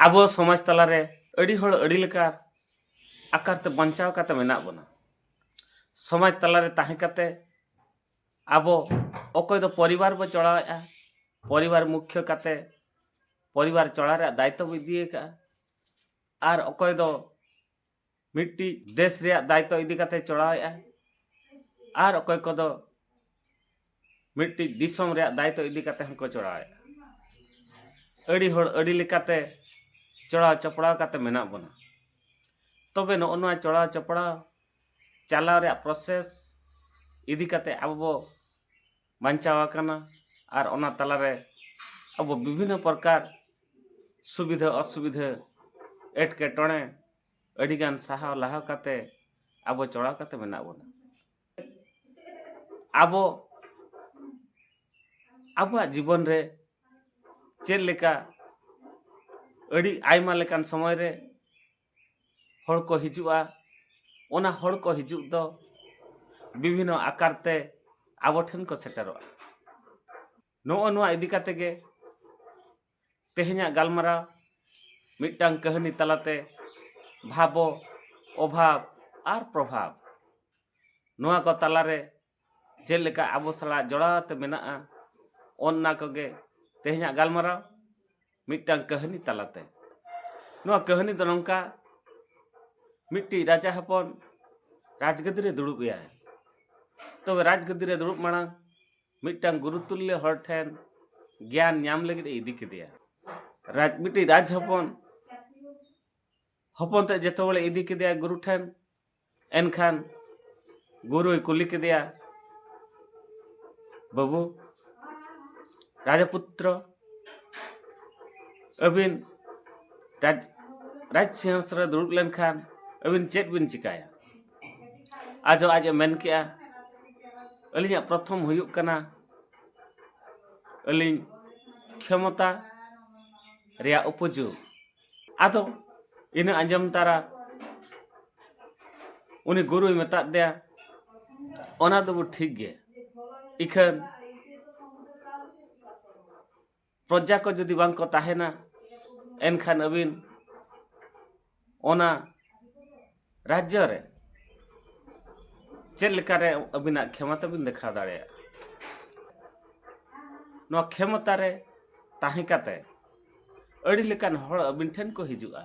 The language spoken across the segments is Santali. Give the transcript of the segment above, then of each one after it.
ᱟᱵᱚ ᱥᱚᱢᱟᱡᱽ ᱛᱟᱞᱟᱨᱮ ᱟᱹᱰᱤ ᱦᱚᱲ ᱟᱹᱰᱤ ᱞᱮᱠᱟ ᱟᱠᱟᱨ ᱛᱮ ᱵᱟᱧᱪᱟᱣ ᱠᱟᱛᱮ ᱢᱮᱱᱟᱜ ᱵᱚᱱᱟ ᱥᱚᱢᱟᱡᱽ ᱛᱟᱞᱟᱨᱮ ᱛᱟᱦᱮᱸ ᱠᱟᱛᱮ ᱟᱵᱚ ᱚᱠᱚᱭ ᱫᱚ ᱯᱚᱨᱤᱵᱟᱨ ᱵᱚ ᱪᱚᱲᱟᱣᱮᱫᱼᱟ ᱯᱚᱨᱤᱵᱟᱨ ᱢᱩᱠᱷᱭᱟᱹ ᱠᱟᱛᱮ ᱯᱚᱨᱤᱵᱟᱨ ᱪᱚᱲᱟ ᱨᱮᱭᱟᱜ ᱫᱟᱭᱤᱛᱛᱚ ᱵᱚ ᱤᱫᱤᱭᱟᱠᱟᱫᱼᱟ ᱟᱨ ᱚᱠᱚᱭ ᱫᱚ ᱢᱤᱫᱴᱤᱡ ᱫᱮᱥ ᱨᱮᱭᱟᱜ ᱫᱟᱭᱤᱛᱛᱚ ᱤᱫᱤ ᱠᱟᱛᱮ ᱪᱚᱲᱟᱣᱮᱜᱼᱟ ᱟᱨ ᱚᱠᱚᱭ ᱠᱚᱫᱚ ᱢᱤᱫᱴᱤᱡ ᱫᱤᱥᱚᱢ ᱨᱮᱭᱟᱜ ᱫᱟᱭᱤᱛᱛᱚ ᱤᱫᱤ ᱠᱟᱛᱮ ᱦᱚᱸᱠᱚ ᱪᱚᱲᱟᱣᱮᱜᱼᱟ ᱟᱹᱰᱤ ᱦᱚᱲ ᱟᱹᱰᱤ ᱞᱮᱠᱟᱛᱮ ᱪᱚᱲᱟᱣ ᱪᱚᱯᱲᱟᱣ ᱠᱟᱛᱮ ᱢᱮᱱᱟᱜ ᱵᱚᱱᱟ ᱛᱚᱵᱮ ᱱᱚᱜᱼᱚ ᱱᱚᱣᱟ ᱪᱚᱲᱟᱣ ᱪᱚᱯᱲᱟᱣ ᱪᱟᱞᱟᱣ ᱨᱮᱭᱟᱜ ᱯᱨᱚᱥᱮᱥ ᱤᱫᱤ ᱠᱟᱛᱮ ᱟᱵᱚ ᱵᱚ ᱵᱟᱧᱪᱟᱣ ᱟᱠᱟᱱᱟ ᱟᱨ ᱚᱱᱟ ᱛᱟᱞᱟᱨᱮ ᱟᱵᱚ ᱵᱤᱵᱷᱤᱱᱱᱚ ᱯᱨᱚᱠᱟᱨ ᱥᱩᱵᱤᱫᱷᱟ ᱚᱥᱩᱵᱤᱫᱷᱟ ᱮᱴᱠᱮᱴᱚᱬᱮ ᱟᱹᱰᱤᱜᱟᱱ ᱥᱟᱦᱟᱣ ᱞᱟᱦᱟ ᱠᱟᱛᱮ ᱟᱵᱚ ᱪᱚᱲᱟᱣ ᱠᱟᱛᱮ ᱢᱮᱱᱟᱜ ᱵᱚᱱᱟ ᱟᱵᱚ ᱟᱵᱚᱣᱟᱜ ᱡᱤᱵᱚᱱ ᱨᱮ ᱪᱮᱫ ᱞᱮᱠᱟ ᱟᱹᱰᱤ ᱟᱭᱢᱟ ᱞᱮᱠᱟᱱ ᱥᱚᱢᱚᱭ ᱨᱮ ᱦᱚᱲ ᱠᱚ ᱦᱤᱡᱩᱜᱼᱟ ᱚᱱᱟ ᱦᱚᱲ ᱠᱚ ᱦᱤᱡᱩᱜ ᱫᱚ ᱵᱤᱵᱷᱤᱱᱱᱚ ᱟᱠᱟᱨ ᱛᱮ ᱟᱵᱚ ᱴᱷᱮᱱ ᱠᱚ ᱥᱮᱴᱮᱨᱚᱜᱼᱟ ᱱᱚᱜᱼᱚ ᱱᱚᱣᱟ ᱤᱫᱤ ᱠᱟᱛᱮ ᱜᱮ ᱛᱮᱦᱮᱧᱟᱜ ᱜᱟᱞᱢᱟᱨᱟᱣ ᱢᱤᱫᱴᱟᱝ ᱠᱟᱹᱦᱱᱤ ᱛᱟᱞᱟᱛᱮ ᱵᱷᱟᱵᱚ ᱚᱵᱷᱟᱵ ᱟᱨ ᱯᱨᱚᱵᱷᱟᱵ ᱱᱚᱣᱟ ᱠᱚ ᱛᱟᱞᱟᱨᱮ ᱪᱮᱫ ᱞᱮᱠᱟ ᱟᱵᱚ ᱥᱟᱞᱟᱜ ᱡᱚᱲᱟᱣ ᱟᱛᱮ ᱢᱮᱱᱟᱜᱼᱟ ᱚᱱᱱᱟ ᱠᱚᱜᱮ ᱛᱮᱦᱮᱧᱟᱜ ᱜᱟᱞᱢᱟᱨᱟᱣ ᱢᱤᱫᱴᱟᱝ ᱠᱟᱹᱦᱱᱤ ᱛᱟᱞᱟᱛᱮ ᱱᱚᱣᱟ ᱠᱟᱹᱦᱱᱤ ᱫᱚ ᱱᱚᱝᱠᱟ ᱢᱤᱫᱴᱤᱡ ᱨᱟᱡᱟ ᱦᱚᱯᱚᱱ ᱨᱟᱡᱽ ᱜᱟᱹᱫᱤ ᱨᱮ ᱫᱩᱲᱩᱵ ᱮᱭᱟᱭ ᱛᱚᱵᱮ ᱨᱟᱡᱽ ᱜᱟᱹᱫᱤ ᱨᱮ ᱫᱩᱲᱩᱵ ᱢᱟᱲᱟᱝ ᱢᱤᱫᱴᱟᱝ ᱜᱩᱨᱩ ᱛᱩᱞᱞᱚ ᱦᱚᱲ ᱴᱷᱮᱱ ᱜᱮᱭᱟᱱ ᱧᱟᱢ ᱞᱟᱹᱜᱤᱫ ᱮ ᱤᱫᱤ ᱠᱮᱫᱮᱭᱟ ᱨᱟᱡᱽ ᱢᱤᱫᱴᱤᱡ ᱨᱟᱡᱽ ᱦᱚᱯᱚᱱ ᱦᱚᱯᱚᱱ ᱛᱮ ᱡᱚᱛᱚ ᱦᱚᱲᱮ ᱤᱫᱤ ᱠᱮᱫᱮᱭᱟ ᱜᱩᱨᱩ ᱴᱷᱮᱱ ᱮᱱᱠᱷᱟᱱ ᱜᱩᱨᱩᱭ ᱠᱩᱞᱤ ᱠᱮᱫᱮᱭᱟ ᱵᱟᱹᱵᱩ ᱨᱟᱡᱟᱯᱩᱛᱨᱚ ᱟᱹᱵᱤᱱ ᱨᱟᱡᱽ ᱨᱟᱡᱽ ᱥᱤᱝᱦᱟᱥ ᱨᱮ ᱫᱩᱲᱩᱵ ᱞᱮᱱᱠᱷᱟᱱ ᱟᱹᱵᱤᱱ ᱪᱮᱫ ᱵᱤᱱ ᱪᱤᱠᱟᱹᱭᱟ ᱟᱡᱚ ᱟᱡ ᱮ ᱢᱮᱱ ᱠᱮᱜᱼᱟ ᱟᱹᱞᱤᱧᱟᱜ ᱯᱨᱚᱛᱷᱚᱢ ᱦᱩᱭᱩᱜ ᱠᱟᱱᱟ ᱟᱹᱞᱤᱧ ᱠᱷᱮᱢᱚᱛᱟ ᱨᱮᱭᱟᱜ ᱩᱯᱚᱡᱳᱜᱽ ᱟᱫᱚ ᱤᱱᱟᱹ ᱟᱸᱡᱚᱢ ᱛᱟᱨᱟ ᱩᱱᱤ ᱜᱩᱨᱩᱭ ᱢᱮᱛᱟᱫ ᱫᱮᱭᱟ ᱚᱱᱟ ᱫᱚᱵᱚ ᱴᱷᱤᱠ ᱜᱮ ᱤᱠᱷᱟᱹᱱ ᱯᱨᱚᱡᱟ ᱠᱚ ᱡᱩᱫᱤ ᱵᱟᱝ ᱠᱚ ᱛᱟᱦᱮᱱᱟ ᱮᱱᱠᱷᱟᱱ ᱟᱹᱵᱤᱱ ᱚᱱᱟ ᱨᱟᱡᱽᱡᱚ ᱨᱮ ᱪᱮᱫ ᱞᱮᱠᱟᱨᱮ ᱟᱹᱵᱤᱱᱟᱜ ᱠᱷᱮᱢᱚᱛᱟ ᱵᱤᱱ ᱫᱮᱠᱷᱟᱣ ᱫᱟᱲᱮᱭᱟᱜᱼᱟ ᱱᱚᱣᱟ ᱠᱷᱮᱢᱚᱛᱟ ᱨᱮ ᱛᱟᱦᱮᱸ ᱠᱟᱛᱮ ᱟᱹᱰᱤ ᱞᱮᱠᱟᱱ ᱦᱚᱲ ᱟᱹᱵᱤᱱ ᱴᱷᱮᱱ ᱠᱚ ᱦᱤᱡᱩᱜᱼᱟ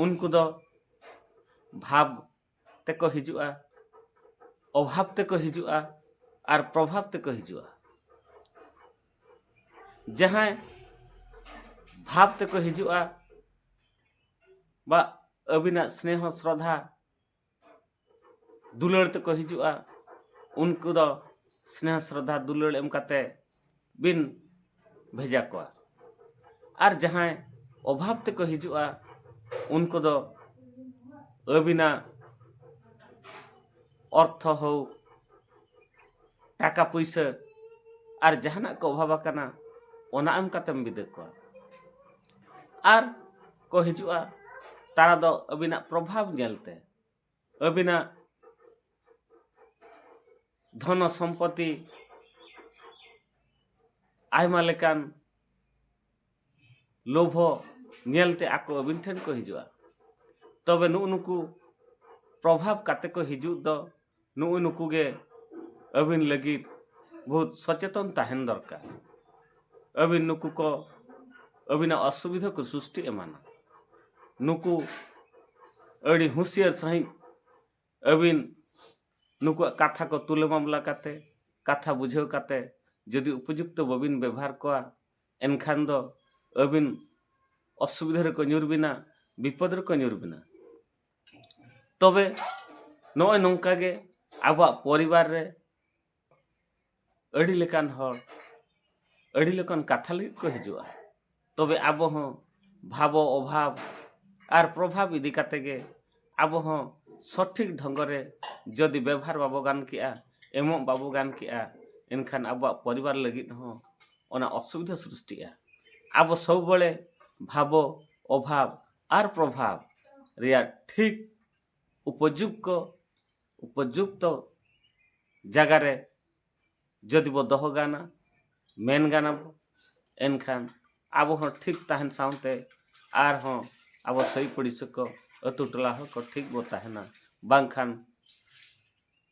ᱩᱱᱠᱩ ᱫᱚ ᱵᱷᱟᱵᱽ ᱛᱮᱠᱚ ᱦᱤᱡᱩᱜᱼᱟ ᱚᱵᱷᱟᱵᱽ ᱛᱮᱠᱚ ᱦᱤᱡᱩᱜᱼᱟ ᱟᱨ ᱯᱨᱚᱵᱷᱟᱵᱽ ᱛᱮᱠᱚ ᱦᱤᱡᱩᱜᱼᱟ ᱡᱟᱦᱟᱸᱭ ᱵᱷᱟᱵᱽ ᱛᱮᱠᱚ ᱦᱤᱡᱩᱜᱼᱟ ᱵᱟ ᱟᱹᱵᱤᱱᱟᱜ ᱥᱱᱮᱦᱚ ᱥᱨᱚᱫᱷᱟ ᱫᱩᱞᱟᱹᱲ ᱛᱮᱠᱚ ᱦᱤᱡᱩᱜᱼᱟ ᱩᱱᱠᱩ ᱫᱚ ᱥᱱᱮᱦᱚ ᱥᱨᱚᱫᱷᱟ ᱫᱩᱞᱟᱹᱲ ᱮᱢ ᱠᱟᱛᱮ ᱵᱤᱱ ᱵᱷᱮᱡᱟ ᱠᱚᱣᱟ ᱟᱨ ᱡᱟᱦᱟᱸᱭ ᱚᱵᱷᱟᱵ ᱛᱮᱠᱚ ᱦᱤᱡᱩᱜᱼᱟ ᱩᱱᱠᱩ ᱫᱚ ᱟᱹᱵᱤᱱᱟᱜ ᱚᱨᱛᱷᱚ ᱦᱳ ᱴᱟᱠᱟ ᱯᱩᱭᱥᱟᱹ ᱟᱨ ᱡᱟᱦᱟᱱᱟᱜ ᱠᱚ ᱚᱵᱷᱟᱵ ᱟᱠᱟᱱᱟ ᱚᱱᱟ ᱮᱢ ᱠᱟᱛᱮᱢ ᱵᱤᱫᱟᱹ ᱠᱚᱣᱟ ᱟᱨ ᱠᱚ ᱦᱤᱡᱩᱜᱼᱟ ᱛᱟᱨᱟ ᱫᱚ ᱟᱹᱵᱤᱱᱟᱜ ᱯᱨᱚᱵᱷᱟᱵᱽ ᱧᱮᱞᱛᱮ ᱟᱹᱵᱤᱱᱟᱜ ᱫᱷᱚᱱᱚ ᱥᱚᱢᱯᱚᱛᱤ ᱟᱭᱢᱟ ᱞᱮᱠᱟᱱ ᱞᱳᱵᱷᱚ ᱧᱮᱞᱛᱮ ᱟᱠᱚ ᱟᱹᱵᱤᱱ ᱴᱷᱮᱱ ᱠᱚ ᱦᱤᱡᱩᱜᱼᱟ ᱛᱚᱵᱮ ᱱᱩᱜᱼᱩ ᱱᱩᱠᱩ ᱯᱨᱚᱵᱷᱟᱵᱽ ᱠᱟᱛᱮ ᱠᱚ ᱦᱤᱡᱩᱜ ᱫᱚ ᱱᱩᱜᱩ ᱱᱩᱠᱩ ᱜᱮ ᱟᱹᱵᱤᱱ ᱞᱟᱹᱜᱤᱫ ᱵᱚᱦᱩᱛ ᱥᱚᱪᱮᱛᱚᱱ ᱛᱟᱦᱮᱱ ᱫᱚᱨᱠᱟᱨ ᱟᱹᱵᱤᱱ ᱱᱩᱠᱩ ᱠᱚ ᱟᱹᱵᱤᱱᱟᱜ ᱚᱥᱩᱵᱤᱫᱷᱟ ᱠᱚ ᱥᱨᱤᱥᱴᱤ ᱮᱢᱟᱱᱟ ᱱᱩᱠᱩ ᱟᱹᱰᱤ ᱦᱩᱸᱥᱤᱭᱟᱹᱨ ᱥᱟᱺᱦᱤᱡ ᱟᱹᱵᱤᱱ ᱱᱩᱠᱩᱣᱟᱜ ᱠᱟᱛᱷᱟ ᱠᱚ ᱛᱩᱞᱟᱹ ᱢᱟᱢᱞᱟ ᱠᱟᱛᱮ ᱠᱟᱛᱷᱟ ᱵᱩᱡᱷᱟᱹᱣ ᱠᱟᱛᱮ ᱡᱩᱫᱤ ᱩᱯᱚᱡᱩᱠᱛᱚ ᱵᱟᱹᱵᱤᱱ ᱵᱮᱵᱷᱟᱨ ᱠᱚᱣᱟ ᱮᱱᱠᱷᱟᱱ ᱫᱚ ᱟᱹᱵᱤᱱ ᱚᱥᱩᱵᱤᱫᱷᱟ ᱨᱮᱠᱚ ᱧᱩᱨ ᱵᱤᱱᱟ ᱵᱤᱯᱚᱫᱽ ᱨᱮᱠᱚ ᱧᱩᱨ ᱵᱤᱱᱟ ᱛᱚᱵᱮ ᱱᱚᱜᱼᱚᱭ ᱱᱚᱝᱠᱟ ᱜᱮ ᱟᱵᱚᱣᱟᱜ ᱯᱚᱨᱤᱵᱟᱨ ᱨᱮ ᱟᱹᱰᱤ ᱞᱮᱠᱟᱱ ᱦᱚᱲ ᱟᱹᱰᱤ ᱞᱮᱠᱟᱱ ᱠᱟᱛᱷᱟ ᱞᱟᱹᱜᱤᱫ ᱠᱚ ᱦᱤᱡᱩᱜᱼᱟ ᱛᱚᱵᱮ ᱟᱵᱚ ᱦᱚᱸ ᱵᱷᱟᱵᱚ ᱚᱵᱷᱟᱵ ᱟᱨ ᱯᱨᱚᱵᱷᱟᱵ ᱤᱫᱤ ᱠᱟᱛᱮ ᱜᱮ ᱟᱵᱚ ᱦᱚᱸ ᱥᱚᱴᱷᱤᱠ ᱰᱷᱚᱝᱜ ᱨᱮ ᱡᱚᱫᱤ ᱵᱮᱵᱷᱟᱨ ᱵᱟᱵᱚ ᱜᱟᱱ ᱠᱮᱜᱼᱟ ᱮᱢᱚᱜ ᱵᱟᱵᱚ ᱜᱟᱱ ᱠᱮᱜᱼᱟ ᱮᱱᱠᱷᱟᱱ ᱟᱵᱚᱣᱟᱜ ᱯᱚᱨᱤᱵᱟᱨ ᱞᱟᱹᱜᱤᱫ ᱦᱚᱸ ᱚᱱᱟ ᱚᱥᱩᱵᱤᱫᱷᱟ ᱥᱨᱤᱥᱴᱤᱜᱼᱟ ᱟᱵᱚ ᱥᱚᱵᱽ ᱵᱟᱲᱮ ᱵᱷᱟᱵᱚ ᱚᱵᱷᱟᱵ ᱟᱨ ᱯᱨᱚᱵᱷᱟᱵᱽ ᱨᱮᱭᱟᱜ ᱴᱷᱤᱠ ᱩᱯᱚᱡᱩᱠᱛᱚ ᱩᱯᱚᱡᱩᱠᱛᱚ ᱡᱟᱭᱜᱟ ᱨᱮ ᱡᱩᱫᱤ ᱵᱚ ᱫᱚᱦᱚ ᱜᱟᱱᱟ ᱢᱮᱱ ᱜᱟᱱᱟ ᱵᱚ ᱮᱱᱠᱷᱟᱱ ᱟᱵᱚ ᱦᱚᱸ ᱴᱷᱤᱠ ᱛᱟᱦᱮᱱ ᱥᱟᱶᱛᱮ ᱟᱨᱦᱚᱸ ᱟᱵᱚ ᱥᱟᱹᱭ ᱯᱩᱲᱤᱥᱤ ᱠᱚ ᱟᱹᱛᱩ ᱴᱚᱞᱟ ᱦᱚᱸ ᱠᱚ ᱴᱷᱤᱠ ᱵᱚ ᱛᱟᱦᱮᱱᱟ ᱵᱟᱝᱠᱷᱟᱱ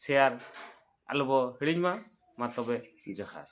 ᱥᱮᱭᱟᱨ ᱟᱞᱚᱵᱚ ᱦᱤᱲᱤᱧ ᱢᱟ ᱢᱟ ᱛᱚᱵᱮ ᱡᱚᱦᱟᱨ